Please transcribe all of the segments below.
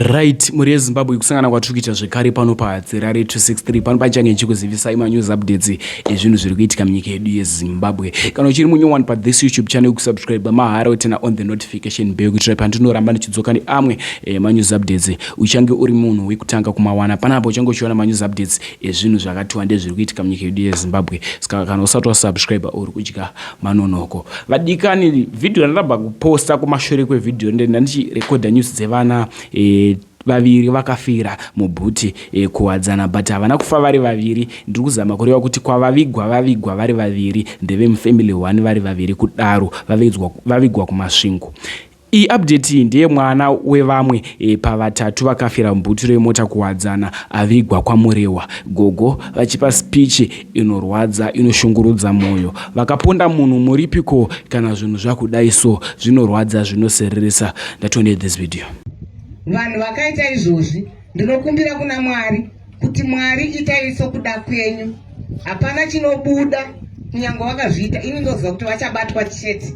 Right, mhuri yeZimbabwe kusangana kwatiri kuita zvekare pano paHadzirare 263 pano pachange ndichikuzivisai manews updates ezvinhu zviri kuitika munyika yedu yeZimbabwe. Kana uchiri munyowani pathis YouTube channel kusubscribe mahara wotena on the notification bell kuitira pandinoramba ndichidzoka neamwe eh, manews updates uchange uri munhu wekutanga kumawana panapa uchange uchiona manews updates ezvinhu zvakatiwa ndezviri kuitika munyika yedu yeZimbabwe. Saka kana usati wasubscribe uri kudya Manonoko vadikani video ndaramba kuposta kumashure kwevideo ndenda ndichirekodha news dzevana e, vaviri vakafira mubhuti e, kuwadzana but havana kufa vari vaviri ndiri kuzama kureva kuti kwavavigwa vavigwa vari vaviri ndevemufamily one vari vaviri kudaro vavigwa kumasvingo Iyi update iyi ndeye mwana wevamwe e, pavatatu vakafira mubhutiro yemota kuwadzana avigwa kwaMurehwa. Gogo vachipa speech inorwadza inoshungurudza moyo. Vakaponda munhu muripi ko kana zvinhu zvakudai so zvinorwadza zvinosereresa. Ndatoone this video. Vanhu vakaita izvozvi. Ndinokumbira kuna Mwari kuti Mwari itai sokuda kwenyu. Hapana chinobuda kunyange wakazviita. Ini ndoziva kuti vachabatwa chete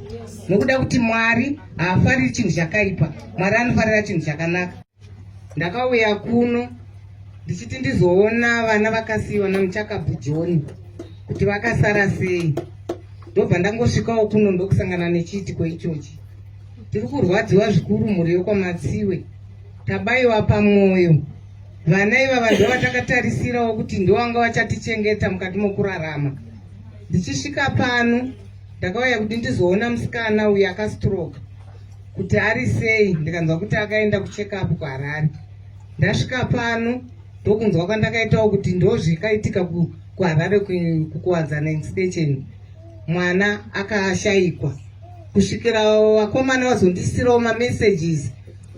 nokuda kuti Mwari haafariri chinhu chakaipa. Mwari anofarira chinhu chakanaka. Ndakauya kuno ndichiti ndizoona vana vakasiyiwa namuchakabvu joni kuti vakasara sei ndobva ndangosvikawo kuno ndokusangana nechiitiko ichochi tiri kurwadziwa zvikuru mhuri yokwamatsiwe Tabaiwa pamwoyo. Vana ivava ndovatakatarisirawo kuti ndovanga vachatichengeta mukati mokurarama. Ndichisvika pano ndakauya kuti ndizoona musikana uyu akastroke kuti ari sei ndikanzwa kuti akaenda kuchekapu kuharare ndasvika pano ndokunzwa kwandakaitawo kuti ndozvikaitika kuharare kukuwadzana instation mwana akashayikwa kusvikira vakomana vazondisirawo mamessages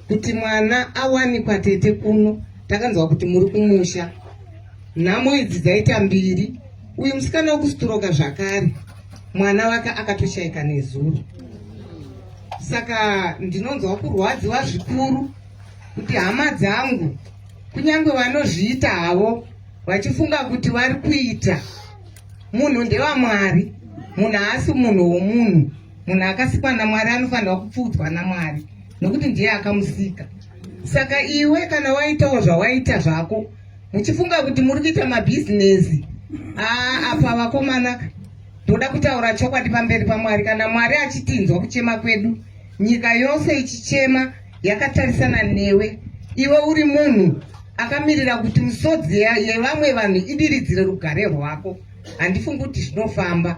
kuti mwana awanikwa tete kuno takanzwa kuti muri kumusha nhamo idzi dzaita mbiri uyu musikana wekusturoka zvakare mwana wake akatoshaika nezuro saka ndinonzwa kurwadziwa zvikuru kuti hama dzangu kunyange vanozviita havo vachifunga kuti vari kuita munhu ndewamwari munhu haasi munhu womunhu munhu akasikwa namwari anofanirwa kupfuudzwa namwari nokuti ndiye akamusika saka iwe kana waitawo zvawaita zvako muchifunga kuti muri kuita mabhizinesi aa apa vakomana ndoda kutaura chokwadi pamberi pamwari kana mwari achitinzwa kuchema kwedu nyika yose ichichema yakatarisana newe iwe uri munhu akamirira kuti misodzi yevamwe vanhu idiridzire rugare rwako handifungi kuti zvinofamba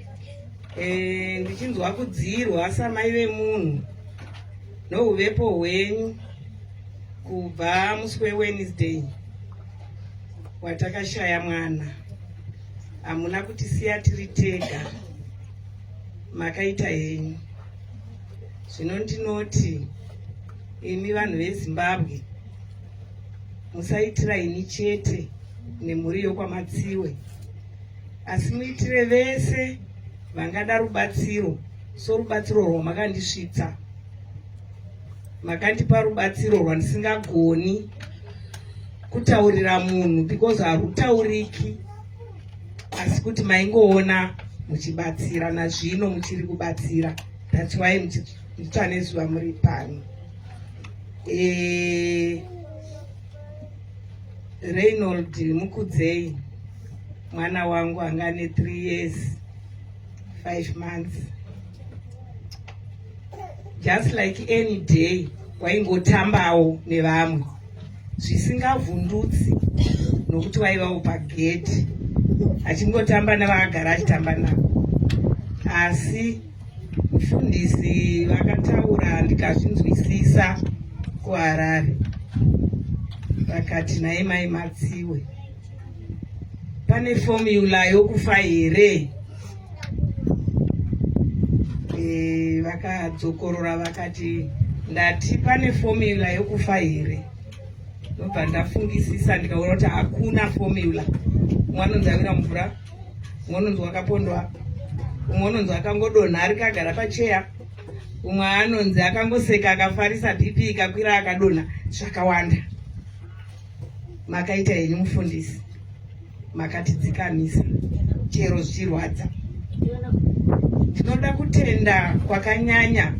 Eh, ndichinzwa kudziirwa samai vemunhu nouvepo hwenyu kubva musi wewednesday watakashaya mwana hamuna kuti siya tiri tega makaita henyu zvino ndinoti imi vanhu vezimbabwe musaitira ini chete nemhuri yokwamatsiwe asi muitire vese vangada rubatsiro sorubatsiro rwamakandisvitsa makandipa rubatsiro rwandisingagoni kutaurira munhu because harutauriki asi kuti maingoona muchibatsira nazvino muchiri kubatsira thats why muchitsva nezuva muri pano e... Reynold Mukudzei mwana wangu anga ane 3 years 5 months just like any day waingotambawo nevamwe zvisingavhundutsi nokuti waivawo pagedhi achingotamba nevakagara achitamba navo asi Mufundisi vakataura ndikazvinzwisisa kuHarare vakati naye mai Matsiwe pane fomula yokufa here e, vakadzokorora vakati ndati pane fomula yokufa here ndobva ndafungisisa ndikaona kuti hakuna fomula mwanonzavira mvura umwe unonzi wakapondwa umwe unonzi akangodonha ari kagara pacheya umwe anonzi akangoseka akafarisa bp ikakwira akadonha zvakawanda makaita henyu mufundisi makatidzikamisa chero zvichirwadza ndinoda kutenda kwakanyanya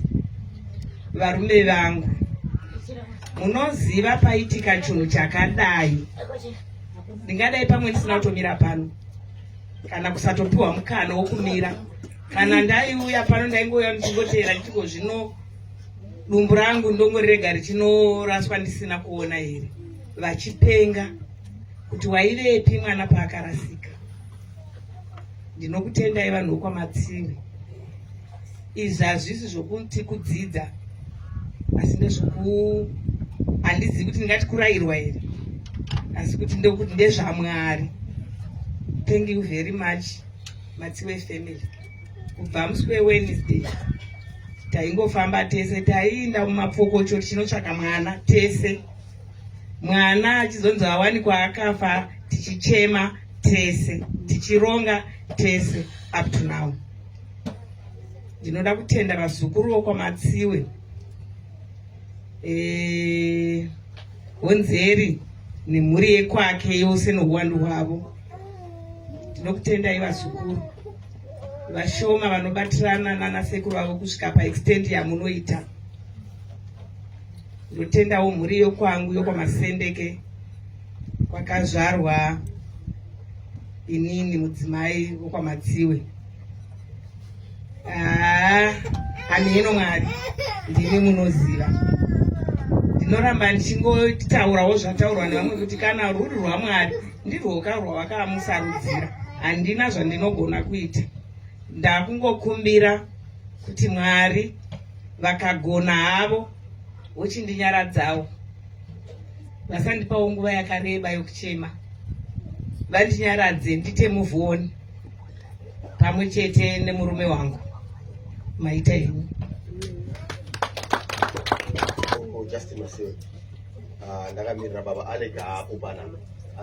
varume vangu munoziva paitika chinhu chakadai ndingadai pamwe ndisina kutomira pano kana kusatopiwa mukana wokumira kana ndaiuya pano ndaingouya ndichingotera ndichiko zvino dumbu rangu ndongorirega richinoraswa ndisina kuona here vachipenga kuti waivepi mwana paakarasika ndinokutendai vanhu vokwamatsiri izvi hazvisi zvokuti kudzidza asi ndezvoku handizivi kuti ndingati kurayirwa here asi kuti ndokuti ndezvamwari thank you very much matsiwe family kubva musi wewednesday taingofamba tese taiinda mumapfokocho tichinotsvaka mwana tese mwana achizonzi awanikwa akafa tichichema tese tichironga tese up to now ndinoda kutenda vazukuru vokwamatsiwe eh, honzeri nemhuri yekwake yose nouwandu hwavo ndinokutendai vazukuru vashoma vanobatirana nana sekuru vavo kusvika paextendi yamunoita ndotendawo mhuri yokwangu yokwamasendeke kwakazvarwa inini mudzimai wokwamatsiwe ah, hamheno mwari ndimi munoziva ndinoramba ndichingotaurawo zvataurwa nevamwe kuti kana ruri rwamwari ndirwoka rwavakamusarudzira handina zvandinogona kuita ndakungokumbira kuti mwari vakagona havo vochindinyaradzawo vasandipawo nguva yakareba yokuchema vandinyaradze ndite muvuoni pamwe chete nemurume wangu maita henyu ah, ndakamirira baba alega apo pana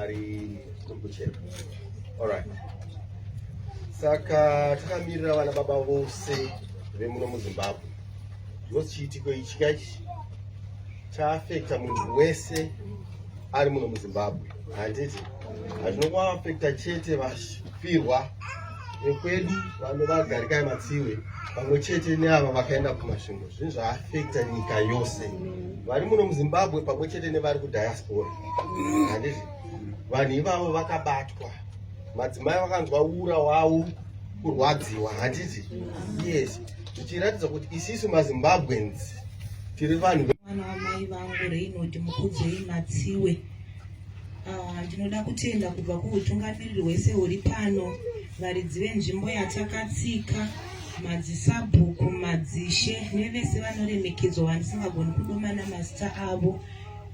ari kurikuchera allright saka takamirira vana baba vose vemuno muzimbabwe ndosichiitiko ichi kaichi chaafekta munhu wese ari muno muzimbabwe handiti hazvino kwaafekta chete vafirwa vekwedu vanhu vagarikai matsiwe pamwe chete neava vakaenda kumasvingo zvinhu zvaafekta nyika yose vari muno muzimbabwe pamwe chete nevari kudiaspora handiti vanhu ivavo vakabatwa madzimai vakanzwa ura wavo kurwadziwa handiti yes zvichiratidza kuti isisu mazimbabweans tiri vanhu mwana wamai vangu reinoti mukudzei matsiwe ah, ndinoda kutenda kubva kuutungamiriri hwese huri pano varidzi venzvimbo yatakatsika madzisabhuku madzishe nevese vanoremekedzwa vandisingagoni kudomana mazita avo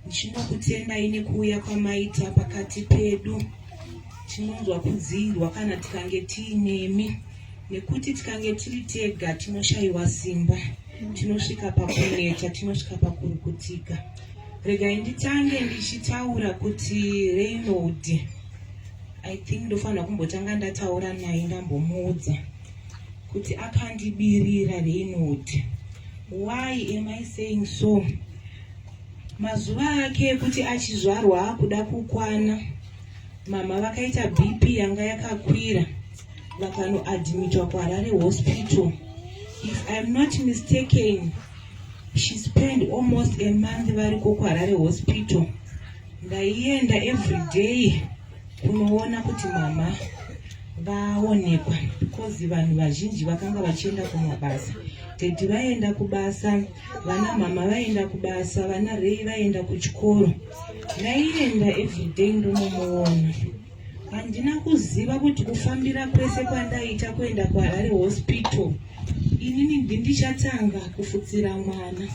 ndichinokutendai nekuuya kwamaita pakati pedu tinonzwa kudziirwa kana tikange tiinemi nekuti tikange tiri tega tinoshayiwa simba tinosvika pakuneta tinosvika pakurukutika regai nditange ndichitaura kuti reynold i think ndofanira kumbotanga ndataura naye ndambomuudza kuti akandibirira reynold why am i saying so mazuva ake ekuti achizvarwa akuda kukwana mama vakaita bp yanga yakakwira vakanoadmitwa kuharare hospital if iam not mistaken she spend almost a month variko kuharare hospital ndaienda every day kunoona kuti mama vaonekwa because vanhu vazhinji vakanga vachienda kumabasa tedi vaenda kubasa vana mama vaenda kubasa vana rei vaenda kuchikoro ndaienda every day ndonomuona Handina kuziva kuti kufambira kwese kwandaita kuenda kwaHarare Hospital inini ndichatanga kufutsira mwana.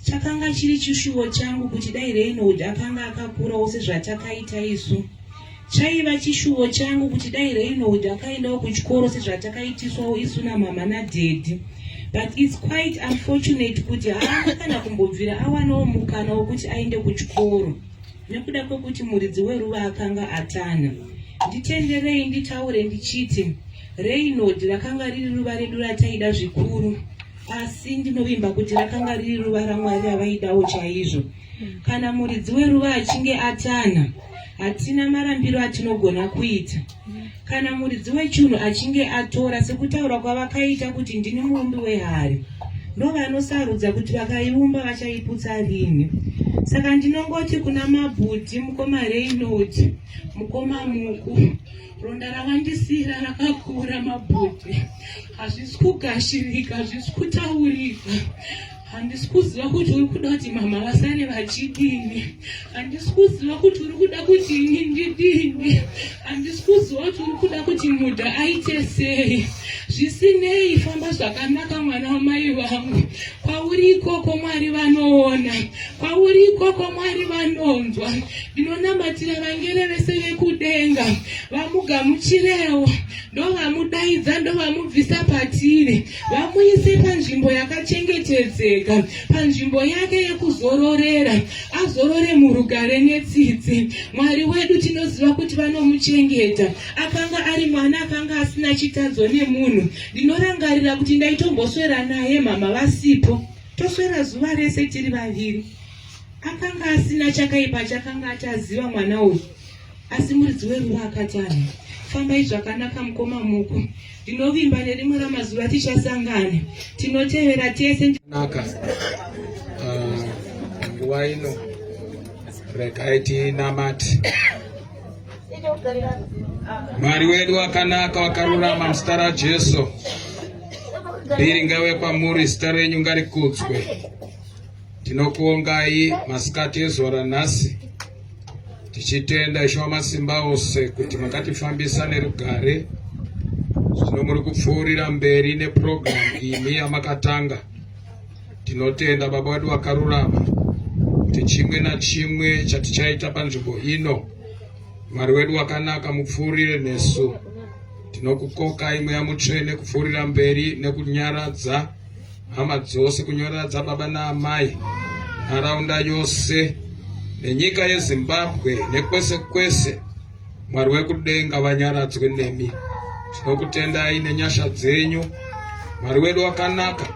Chakanga chiri chishuwo changu kuti dai Reynold akanga akakurawo sezvatakaita isu. Chaiva chishuwo changu kuti dai Reynold akaendawo kuchikoro sezvatakaitiswawo isu namama nadhedhi. But it's quite unfortunate kuti haana kana kumbobvira awanawo mukana wokuti aende kuchikoro. nekuda kwekuti muridzi weruva akanga atanha. Nditenderei nditaure ndichiti Reynold rakanga riri ruva redu rataida zvikuru, asi ndinovimba kuti rakanga riri ruva raMwari ravaidawo chaizvo. Kana muridzi weruva achinge atanha, hatina marambiro atinogona kuita. Kana muridzi wechinhu achinge atora sekutaura kwavakaita kuti ndini muumbi wehari, ndovanosarudza kuti vakaiumba vachaiputsa rini. Saka ndinongoti kuna mabhuti, mukoma Reynold, mukoma Muku, ronda ravandisira rakakura mabhuti, hazvisi kugashirika, hazvisi kutaurika. handisi kuziva kuti uri kuda kuti mama vasane vachidini handisi kuziva kuti uri kuda kuti ini ndidini handisi kuziva kuti uri kuda kuti mudha aite sei zvisinei famba zvakanaka mwana wamai vangu kwauri ikoko mwari vanoona kwauri ikoko mwari vanonzwa ndinonamatira vangere vese vekudenga vamugamuchirewo ndovamudaidza ndovamubvisa patiri vamuise panzvimbo yakachengetedzeka panzvimbo yake yekuzororera azorore murugare netsitsi mwari wedu tinoziva kuti vanomuchengeta akanga ari mwana akanga asina chitadzo nemunhu ndinorangarira kuti ndaitomboswera naye mama vasipo toswera zuva rese tiri vaviri akanga asina chakaipa chakanga ataziva mwana uyu Asi muridzi weruva akati ane, Fambai zvakanaka mukoma muku, ndinovimba nerimwe ramazuva tichasangana, tinotevera tese. Naka ah, nguva ino regai tinamati Mwari wedu wakanaka wakarurama muzita raJesu. Biri ngave kwamuri, zita renyu ngarikudzwe. Tinokuongai masikati ezuva ranhasi tichitenda Ishe Wamasimba Ose kuti makatifambisa nerugare. Zvino muri kupfuurira mberi nepurogiramu imi yamakatanga. Tinotenda Baba wedu wakarurama kuti chimwe nachimwe chatichaita panzvimbo ino, Mwari wedu wakanaka, mupfuurire nesu. Tinokukokai Mweya Mutsvene kupfuurira mberi nekunyaradza hama dzose kunyora dzababa naamai nharaunda yose nenyika yezimbabwe nekwese kwese mwari wekudenga vanyaradzwe nemi tinokutendai nenyasha dzenyu mwari wedu wakanaka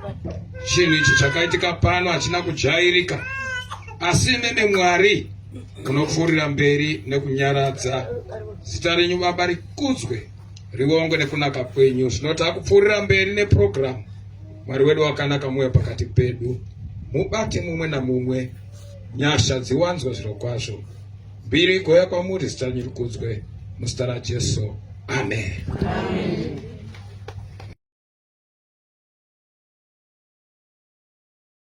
chinhu ichi chakaitika pano hachina kujairika asi nene mwari unopfuurira mberi nekunyaradza zita renyu baba rikudzwe Rivongwe nekunaka kwenyu. Zvino takupfuurira mberi neprogramu. Mwari wedu wakanaka muuya pakati pedu. Mubate mumwe namumwe. Nyasha dziwanzwe zviro kwazvo. Mbiri igoya kwamuri zita renyu rikudzwe. Muzita raJesu. Amen. Amen.